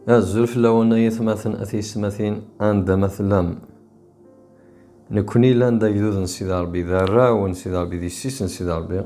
Azul fell-awen ay atmaten a tiyesmatin anda ma tellam. Nekkni llan d agdud n Sidi Ṛebbi, d arraw n Sidi Ṛebbi, d yessi-s n Sidi Ṛebbi.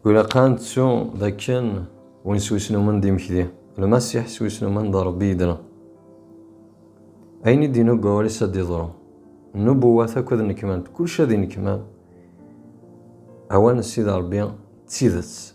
Ilaq ad nettu d akken win s wisnumen d imekdi, Lmasiḥ s wisnumen d Ṛebbi yedna. Ayen i d-inug wawal-is ad d-iḍru. Nnubuwat akk ad nnekmant, kullec ad innekman. Awal n Sidi Ṛebbi d tidet.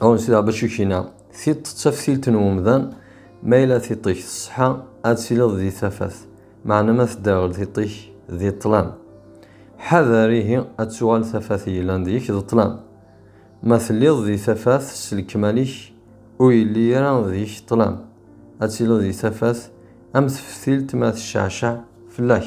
Awen sida Bacukina, tiṭ d taftilt n umdan, ma yella tiṭ-ik tṣeḥḥa, ad tiliḍ di tafat, meɛna ma tedderɣel tiṭ-ik, di ṭṭlam. Ḥader ihi ad tuɣal tafat yellan deg-k d ṭṭlam. Ma telliḍ di tafat s lekmal-ik, ur yelli ara deg-k ṭṭlam, ad tiliḍ di tafat am teftilt ma tecceɛceɛ fell-ak.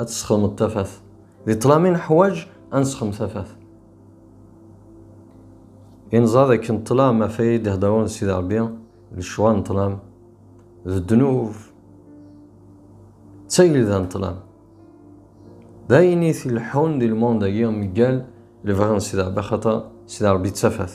ad tesxedmeḍ tafat di ṭlam i neḥwaǧ ad nesxedm tafat i neẓra d akken ṭlam af ay d-ihedrun Sidi Ṛebbi d lecɣal n ṭlam d ddnub d tagelda n ṭlam d ayen i t-ileḥḥun di lmond-agi mgal lebɣi n Sidi Ṛebbi axaṭer Sidi Ṛebbi d tafat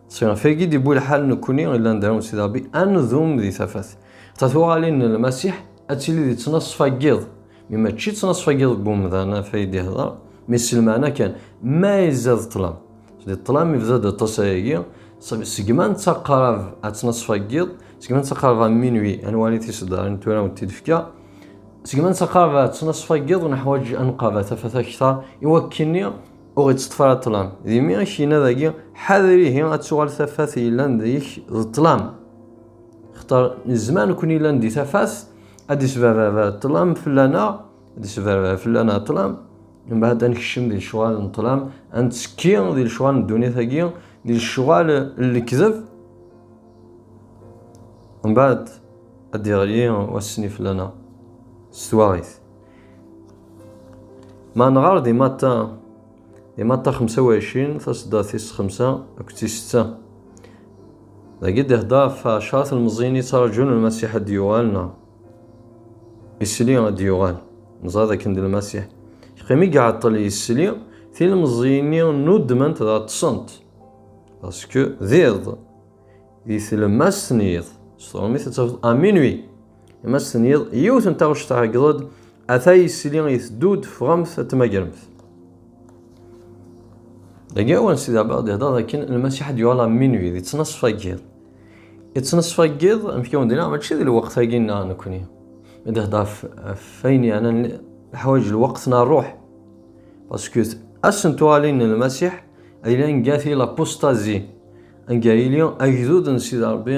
Si ɣef agi d-iwwi lḥal nekkni i llan d arun Sidi Rebbi ad nedum di tafat. Ta tuɣalin n Lmasiḥ ad tili di ttnaṣfa n yiḍ, mi mačči ttnaṣfa n yiḍ deg umdan af ay d-ihder, mi s lmeɛna kan, ma izad ṭṭlam. Di ṭṭlam ibda-d aṭas ayagi, segma nettaqarab a ttnaṣfa n yiḍ, segma nettaqarab a minwi ad nwali tiseddarin tura ur t-id-fka, segma nettaqarab a ttnaṣfa n yiḍ neḥwaǧ ad nqaba tafat akter iwakkeni, Ur ɣ-iţṭef ara ṭṭlam. D imi i k-yenna dagi, Ḥader ihi ad tuɣal tafat yellan deg-k d ṭṭlam. Xeṭṭer nezmer nekni yellan di tafat, ad d-isberberber ṭṭlam fell-aneɣ, ad d-isberberber fell-aneɣ ṭṭlam, mbeɛd ad nekcem di lecɣal n ṭṭlam, ad nettekki di lecɣal n ddunit-agi, di lecɣal n lekdeb, mbeɛd ad d-iɣli wass-nni fell-aneɣ s twaɣit. Ma nɣar di matta, di matta 25, tasedda tis xemsa akked tis setta. Dagi d-ihedder ɣef ɛecra telmeẓyin yettraǧun Lmasiḥ ad d-yuɣal neɣ isli ad d-yuɣal. Neẓra d akken d Lmasiḥ. Yeqqim i iɛeṭṭel yesli, tilmeẓyin-nni nuddment dɣa ṭṭsent. Parce que d iḍ, di tlemmast n yiḍ, s tṛumit ad tafeḍ à minuit. Ma s-tenniḍ yiwet n taɣect tɛeggḍed, ata yisili iteddu-d ffɣemt ad tmagremt. Dagi awan Sidi Ɛebba d-ihder d akken lmasiḥ ad yuɣal ɣer minwi, di ttnaṣfa n yiḍ. I ttnaṣfa n yiḍ, amek i wen-d-nniɣ, mačči di lweqt-agi nneɣ nekkni. I d-ihder ɣef ayen yeɛna leḥwayeǧ lweqt n rruḥ. Pasku ass n tuɣalin n lmasiḥ, a yili anga tili lapustazi, anga yili agdud n Sidi Ṛebbi,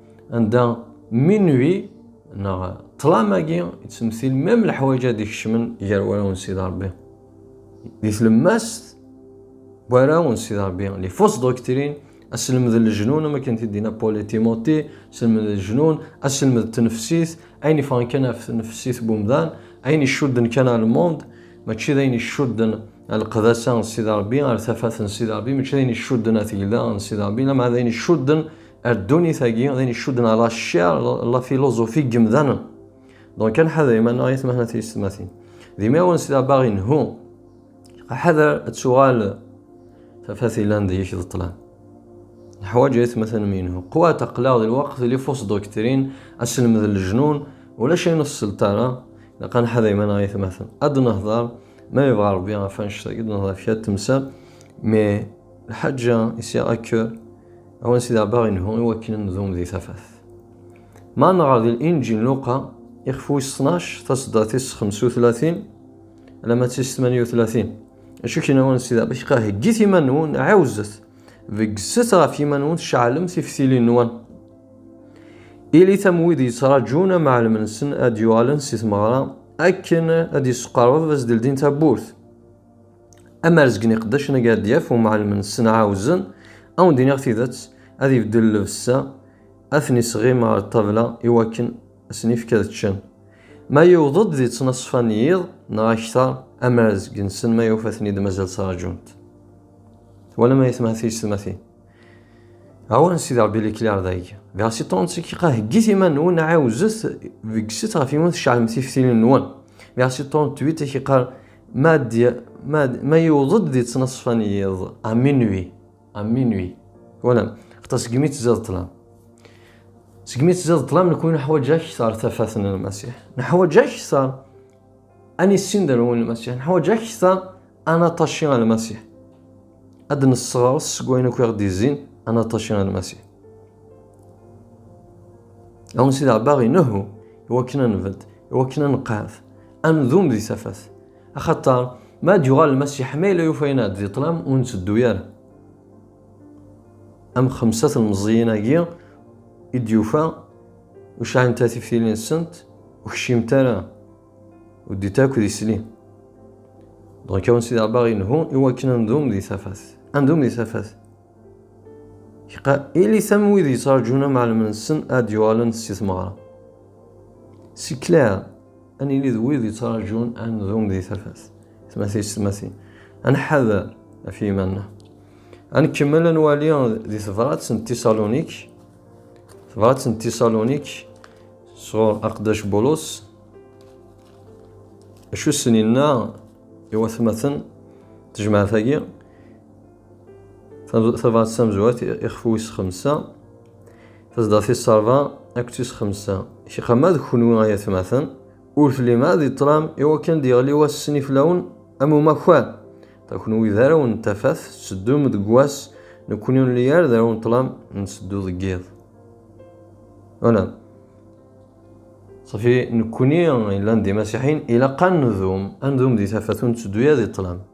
Anda minuit neɣ ṭlam-agi yettmessil même leḥwaǧ ad ikecmen gar wara n Sidi Rebbi. Di tlemmast wara n Sidi Rebbi, les fausses doctrines, aselmed n lejnun am akken t-id-yenna Paul et Timothée, aselmed n lejnun, aselmed n tnefsit, ayen yeffɣen kan ɣef tnefsit n umdan, ayen icudden kan ɣer lmond, mačči d ayen icudden lqedasa n Sidi Rebbi, ar tafat n Sidi Rebbi, mačči d ayen icudden ar tegla n Sidi Rebbi, lameɛna d ayen icudden ar ddunit-agi d ayen icudden ala ccer la filuzufi n yemdanen donc ad nḥader iman-nneɣ i tmehna tiyessetmatin d imawen s labaɣ inhu ḥader ad tuɣal tafat ilan deg-k d ṭṭlam neḥwaǧ aytmaten mi inhu qwat aqlaɣ di lweqt li fos doktrin aselmed n lejnun ulac ayen ur tesselt ara ilaq ad nḥader iman-nneɣ i tmaten ad nehder ma yebɣa rebbi ɣef annect-agi ad nehder ɣef kra temsal mais lḥaǧa isiɣ akk Awen Sidi Ɛebbaɣ inhu i wakken ad nedum di tafat. Ma nɣer di Linǧil n Luqa, ixef wis ttnac, taseddart-is xemsa u tlatin alamma d tis tmanya u tlatin. Acu kan awen Sidi Ɛebbaɣ, heggit iman-nwen, ɛiwzet, beggset ɣef yiman-nwen, ceɛlem tiftilin-nwen. Ilit am wid yettraǧun amɛellem-nsen ad d-yuɣalen si tmeɣra, akken ad d-yesqerreb ad as-d-ldin tawwurt. Amarzeg n iqeddacen agaɛdyaf umɛellem n ṣenɛa uzen, ad wen-d-iniɣ tidet, ad ibeddel llebsa, ad ten-isɣim ɣer ṭṭabla iwakken ad sen-ifk ad ččen. Ma yewweḍ-d di ttnaṣfa n yiḍ neɣ akter, amarzeg-nsen ma yufa-ten-id mazal ttraǧun-t. Twalam ay atmaten tiysetmatin? Awal n Sidi Rebbi Likliɛr d agi. Versi 35 iqa heggit iman-nwen, ɛiwzet, beggset ɣef yiwen tceɛlem tiftilin-nwen. Versi 38 ak iqar Ma d ma d ma yuweḍ-d di ttnaṣfa n yiḍ à minuit à minuit wala xaṭa segmi tziḍ ṭlam segmi tziḍ ṭlam nekwi neḥwaǧ akteṛ tafat n Lmasiḥ neḥwaǧ akteṛ ad nissin d anwi Lmasiḥ neḥwaǧ akteṛ ad naṭaci ɣer Lmasiḥ ad d-nesseɣres seg wayen akk i ɣ-d-izzin ad naṭaci ɣer Lmasiḥ Awen Sidi Ɛebbaɣ inehhu iwakken ad nbedd iwakken ad neqɛed Anudum di tafat. Axaṭer, ma ad yuɣal Lmasiḥ ma yella yufa yenna di ṭlam ur nteddu ara. Am xemsa telmeẓyin-agi i d-yufa ur sɛint ara tiftilin-nsent ur kciment ara ur d-it akk di sli. Donc awen Sidi Rebbi aɣ-yenhu i wakken ad ndum di tafat. Ad ndum di tafat. Iqa ilit am wid yettraǧun amɛellem-nsen ad d-yuɣalen si tmeɣra. C'est clair. ad nili d wid yettraǧun ad nzum di tafat tmati s tmati ad nḥader ɣef yiman-nneɣ ad nkemmel ad nwali di tebrat n tisalonik tebrat n tisalonik sɣur aqdac bulus acu sen-inna i watmaten tejmaɛt-agi Tabɣat d tamezwart ixef wis xemsa, tezdeɣ tis ṛebɛa akked tis xemsa. Kra ma d kenwi ay atmaten, ur tellim ara di ṭṭlam i wakken ad d-yeɣli wass-nni fell-awen am umakar. Kenwi d arraw n tafat, tetteddum deg wass, nekkni ur nelli ara d arraw n ṭṭlam, netteddu deg yiḍ. Wala. Safi, nekkni yellan d imasiḥiyen, ilaq ad nedum, ad nedum di tafat, ur netteddu ara di ṭṭlam.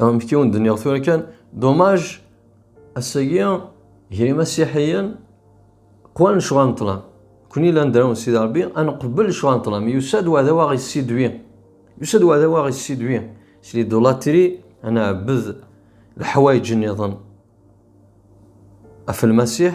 amek i wen-d-nniɣ tura kan domaj ass-agi gar imasiḥiyen qwan lecɣal n ṭlam kuni llan d araw n Sidi Rebbi ad neqbel lecɣal n ṭlam yusa-d uɛdaw aɣ yessidwi yusa-d uɛdaw aɣ yessidwi s lidulatri ad nɛebbed leḥwayeǧ-nniḍen af lmasiḥ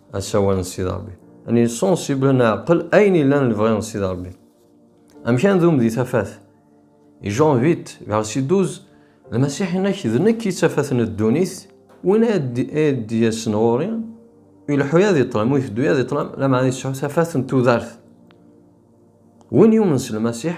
asawal n Sidi Ṛebbi. Ani sensible neɛqel ayen yellan lebɣi n Sidi Ṛebbi. Amek ad ndum di tafat? I Jean 8, verset 12, Lmasiḥ yenna-k d nekk i tafat n ddunit, win ay d-yasen ɣur-i, ileḥḥu-ya di ṭṭlam, u iteddu-ya di ṭṭlam, lameɛna yesɛu tafat n tudert. Win yumen s Lmasiḥ,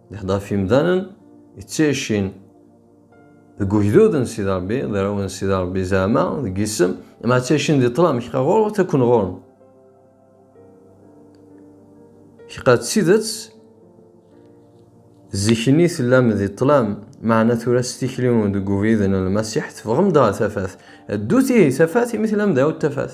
Neḥḍer ɣef yimdanen yettɛicin deg ugdud n Sidi Rebbi, d arraw n Sidi Rebbi zeɛma deg yisem, ma ttɛicin di ṭṭlam kqa ɣur-w takken ɣur-m. Kqa d tidet zik-nni tellam di ṭṭlam, meɛna tura s tikli deg ubrid n Lmasiḥ teffɣem-d ɣer tafat. Ddut ihi tafat imi tellam d awt tafat.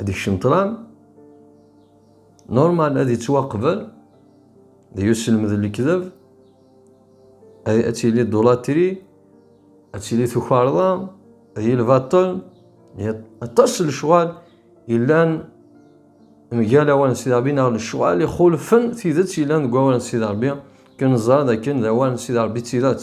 Ad ikcem ṭran, normal ad yettwaqbel, d uselmed n lekdeb, ad tili dulatri, ad tili tukarḍa, ad yili lbaṭel, aṭas n lecɣal yellan mgal awal n Sidi Ṛebbi neɣ lecɣal ixulfen tidet yellan deg awal n Sidi Ṛebbi, akken neẓra d akken d awal n Sidi Ṛebbi d tidet.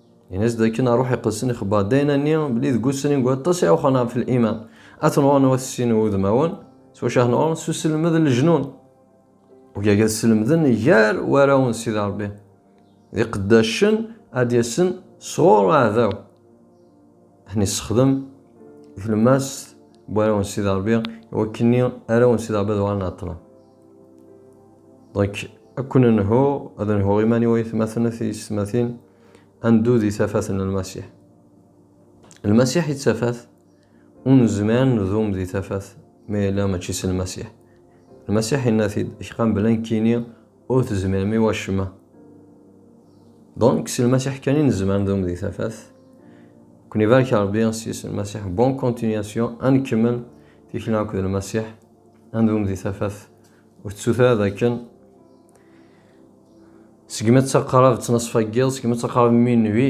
Yenna-as dakken aruḥ iqedsen ixebber dayna-nni belli deg usrin deg waṭas i awxan ɣef liman. Ad tenɣuren wat sin wudmawen, s wacu ad tenɣuren? S uselmed n lejnun. Ugaga ad sselmden gar warraw n Sidi Rebbi, d iqeddacen ad d-yasen sɣur aɛdaw. Ḥni sexdem tlemmast n warraw n Sidi Ṛebbi iwakken-nni arraw n Sidi Ṛebbi ad uɣalen ɛeṭṭlen. Donc, akk nenhu, ad nhuɣ iman-iw ay tmaten at yessetmatin, ad neddu di tafat n Lmasiḥ. Lmasiḥ i d tafat, ur nezmir ad nedum di tafat ma yella mačči s Lmasiḥ. Lmasiḥ yenna-t-id, kqan bla nekkini, Ur tezmirem i wacemma. Donc, si Lmasiḥ kan i nezmer ad nedum di tafat. Ken ibarek Rebbi s yis n Lmasiḥ. Bonne continuation, ad nkemmel tikli akked Lmasiḥ, ad nedum di tafat. Ur tettut ara dakken segmi ttaqrab ttnaṣfa n yiḍ, segmi ttaqrab mi nwi,